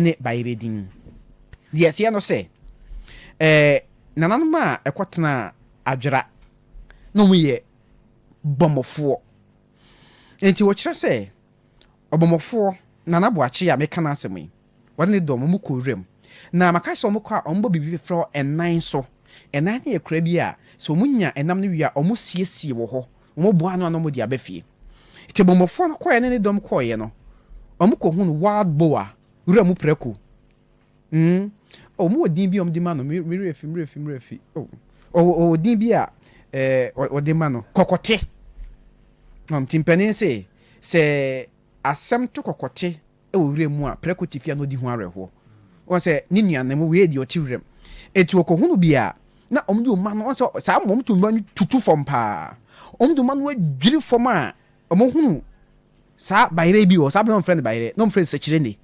ne bayerɛ din. Deɛ ɛteɛ no sɛ, eh, nananom a ɛkɔtenaa Adwera na wɔyɛ Bɔmmɔfoɔ. Enti wɔkyerɛ sɛ Ɔbɔmmɔfoɔ Nana Boakye a meka n'asɛm yi, wɔne ne dɔm wɔkɔ wuram. Na maka sɛ wɔkɔ a wɔbɔ biribi frɛ hɔ ɛnan so. Ɛnan no yɛ kura bi a sɛ wɔnya ɛnam no wie a wɔsiesie wɔ hɔ. Wɔboa ano ano wɔde aba fie. Tibombofoɔ no kɔeɛ ne ne dɔm kɔeɛ no, wɔkɔhunu wild boar, wura mu prako. Mm, oh, wɔwɔ din bi a wɔde ma no, me werɛ afi, me werɛ afi, me werɛ afi. Oh, oh, wɔwɔ din bi a eh, wɔde ma no, kɔkɔte. Um, ti mpanin se, sɛ asɛm to kɔkɔte wɔ wuram mu a, prɛko tefia na odi ho awerɛhoɔ. Ɔhu sɛ ne nuanom, wei yɛ deɛ ɔte wuram. Enti wɔkɔhunu bi a, na wɔde wɔn mma no, ɔhu sɛ saa mma wɔto mma no tutu fam pa ara. Wɔde mma no adwiri fam a, wɔhunu saa bayerɛ bi wɔ hɔ, saa berɛ no na wɔfrɛ no bayerɛ, na wɔfrɛ no sɛkyirɛne.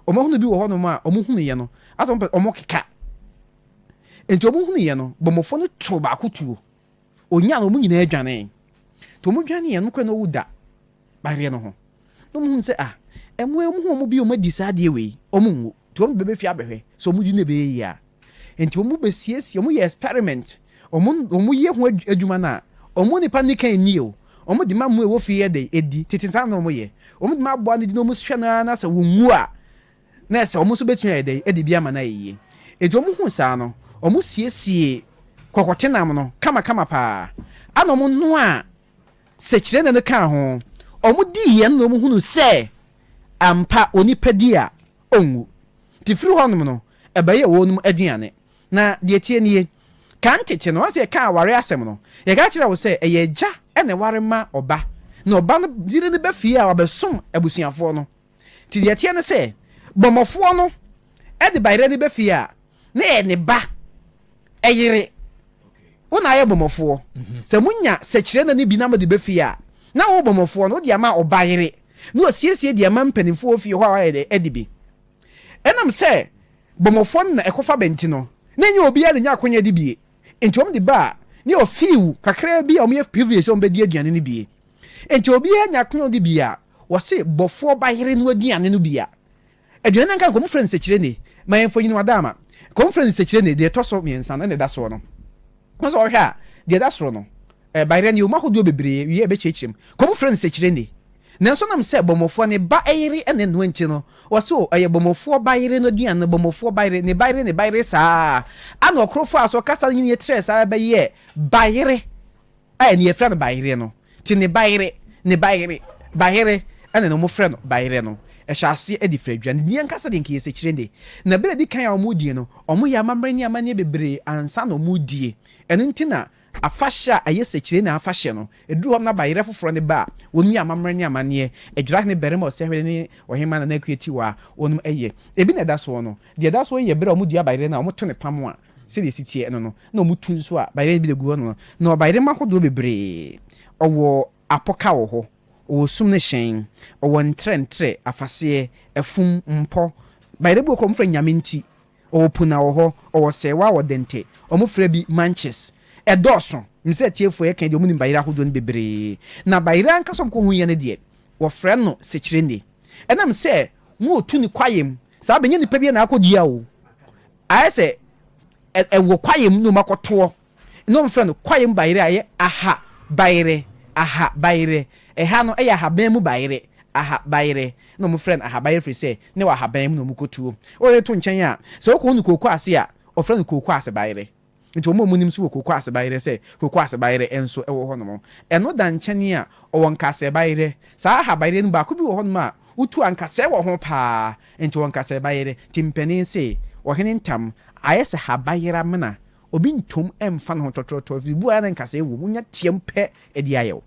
Wɔhunu bi wɔ hɔnom a, wɔhunuiɛ no, asɛ wɔpɛ, wɔkeka. Enti wɔhunuiɛ no, bɔmmɔfoɔ no too baako tuo, Onyaa no, wɔn nyinaa dwanee. Nti wɔn dwaneeɛ no nokorɛ na wɔwu da adeɛ no ho. Na wɔn hunu sɛ ah ɛmoa yi wɔn ho wɔn bi wɔn adi saa adeɛ wei wɔn nwu. Nti wɔn bɛbɛ fie abɛhwɛ sɛ wɔn di no ɛbɛyɛ yie a. Nti wɔn bɛ siesie wɔn yɛ experiment wɔn wɔn yɛ ho adwuma no a wɔn nipa no nnikan nni o wɔn de ma mmoa ɛwɔ fie yɛ dɛn ɛdi tete saa na wɔn yɛ wɔn de ma aboa no di na wɔn hwɛ no ara na sɛ wɔn wu a na ɛsɛ sɛ wɔn nso betumi ayɛ dɛn de bi ama no ayɛ yiye. Enti wɔhuu saa no, wɔsiesiee kɔkɔtenam no kamakama paa, ɛnna wɔnoaa sɛkyerɛnne no kaa ho. Wɔdii ɛno na wɔhunuu sɛ ampa onipa di a, onwu. Enti firi hɔnom no, ɛbɛyɛɛ wɔnom aduane. Na deɛ ɛteɛ nie, kan tete no, wɔn a sɛ yɛka aware asɛm no, yɛka kyerɛ wo sɛ ɛyɛ agya na ɛware ma ɔba, na ɔba no yere no ba fie a wabɛsom abusuafoɔ no. Nti deɛ ɛteɛ ne sɛ, bɔmmɔfoɔ no de bayerɛ no ba fie a, na ɛyɛ ne ba yere. Wo na ayɛ bɔmmɔfoɔ. Sɛ monya sɛkyerɛnna no bi na mode ba fie a, na wo bɔmmɔfoɔ no, wode ama wo bayere na wasiesie de ama mpanimfoɔ wɔ fie hɔ a wɔayɛ dɛ adi bi. Ɛnam sɛ bɔmmɔfoɔ no na ɛkɔfa ba nti no, na ɛnyɛ obiara na ɛnya akwannya di bi. Enti wɔn de baa ne hɔ few kakraa bi a wɔyɛ privilege sɛ wɔbɛdi aduane no bi. Enti obiara nya kwan ɔde bi a, wɔse bɔfoɔ ba yere no aduane no bi a. Aduane no anka nka wɔfrɛ no nsekyirene. Ma yɛn mfonyin wɔ Adaama. Nka wɔfrɛ no nsekyirene, deɛ ɛtɔ so mmiɛnsa no ɛna ɛda soɔ no. Wɔn sɛ wɔhwɛ a, deɛ ɛda soro no, Ɛbae dɛ nneɛma ahodoɔ bebree wie a ɛbɛkyerɛkyerɛ mu kɔ mu frɛ no sɛkyirɛni. Nanso nam sɛ bɔmmɔfoɔ no ba yere na ɛnoa nti no, wɔse o, ɛyɛ bɔmmɔfoɔ ba yere no aduane no, bɔmmɔfoɔ ba yere, ne ba yere, ne ba yere saa ara na ɔkoro faa so kasa no nyini trɛɛ saa ara bɛyɛɛ ba yere a ɛnɛ yɛfrɛ no bayereɛ no. Nti ne ba yere, ne ba yere, ba yere ɛna na wɔfrɛ no ba yere no. Ɛhyɛ aseɛ de firi aduane bi ankasa deɛ nka ɛyɛ sɛkyirɛni. Na berɛ a ɛdi kan a wɔredie no, wɔyɛ amammerɛ ne amanneɛ bebree ansa na wɔredie. Ɛno nti na Afahyɛ a ɛyɛ sɛkyerɛnne afahyɛ no, ɛduru hɔ no na bayerɛ foforɔ no ba a, wɔnom yɛ amammerɛ ne amanneɛ. Adwira hene barima ɔsɛhwɛ ne ɔhemmaa Nana Akua Tiwa a wɔnom yɛ. Ɛbi na ɛda soɔ no. Deɛ ɛda soɔ yi yɛ berɛ a wɔdua bayerɛ no a wɔto ne pam a sɛdeɛ ɛsi teɛ no no, na wɔtu nso a bayerɛ no bi da gu hɔ no no. Na ɔbayerema ahodoɔ bebree. Ɔwɔ apoka wɔ hɔ, ɔwɔ sum ne hyɛn, ɔwɔ ntrɛntrɛ, afaseɛ, afum, mpɔ. Bayerɛ bi wɔ hɔ koraa a wɔfrɛ no Nyame nti, Ɔwɔ puna wɔ hɔ, ɔwɔ sɛɛwa wɔ dɛntɛ. Ɔmo frɛ bi manches. Ɛdɔɔso. Nim sɛ atiefoɔ yɛka yi deɛ ɔmo nim bayerɛ ahodoɔ no bebree. Na bayerɛ ankasa a ɔmo kɔ huiɛ no deɛ, wɔfrɛ no sekyerɛnne. Ɛnam sɛ mo ɔtu no kwaeɛ mu saa bɛnyɛ nipa biara na akɔ dua o. Ayɛ sɛ ɛwɔ kwaeɛ mu na ɔmo akɔ toɔ. na wɔfrɛ no kwaeɛm bayerɛ a ɛyɛ aha bayerɛ, aha bayerɛ. Ɛha no ɛyɛ ahaban mu bayerɛ, aha bayerɛ. Na wɔfrɛ no aha bayerɛ firi sɛ na ɛwɔ ahaban mu na wɔkɔ tuo. Woreto nkyɛn a, sɛ wokɔ hunu kooko ase a, wɔfrɛ no kooko ase bayerɛ. Nti wɔn a wɔnim nso wɔ kooko ase bayerɛ sɛ kooko ase bayerɛ nso wɔ hɔnom. Ɛno da nkyɛn a, wɔwɔ nkasɛɛ bayerɛ. Saa aha bayerɛ no baako bi wɔ hɔnom a, wotu ankasɛɛ wɔ ho pa ara. Nti wɔwɔ nkasɛɛ bayerɛ. Nti mpanin se, Ɔhene ntam, ayɛ sɛ ha bayerɛ amena, Obi ntom mfa ne ho tɔtorɔtorɔ ɛfiri sɛ obi wɔ hɔ a na nkasɛɛ wɔ mu, wonya team pɛ ɛde ayɛ wo.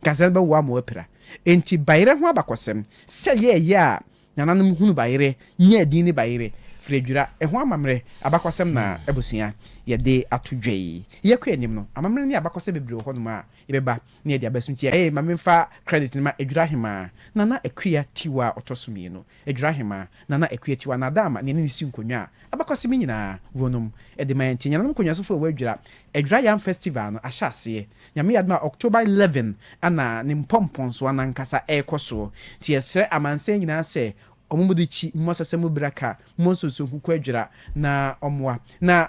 Nkasɛɛ no bɛwoa ma woapira. Enti bayerɛ ho abakɔsɛm, sɛ ɛyɛ a ɛyɛ a nananom hunu bayerɛ, nyaa din ne bayerɛ firi adwira, ɛho amammerɛ, abakɔsɛm na abusua yɛde ato dwa yi. Yɛkɔ anim no, amammerɛ ne abakɔsɛm bebree wɔ hɔnom a yɛbɛba na yɛde aba so nti ɛyɛ ma memfa credit no ma Adwira Ahemaa, Nana Akua Tiwa a ɔtɔ so mmienu, Adwirahemaa, Nana Akuatiwa, na Adaama nea ne ne si nkonnwa a abakɔsem nyinaa wɔ nom de ma yɛn nti Nyananom Nkonyasofo a wɔadwira Adwira Yam Festival no ahyɛ aseɛ Nyame yɛ adom a October eleven na ne mpɔmpɔnsoɔ no ankasa rekɔ soɔ nti yɛsrɛ amansan nyinaa sɛ wɔn mmɔdekyi mmɔ sɛsɛ mu bira ka mmɔ nsonso nkuku adwira na wɔmmoa na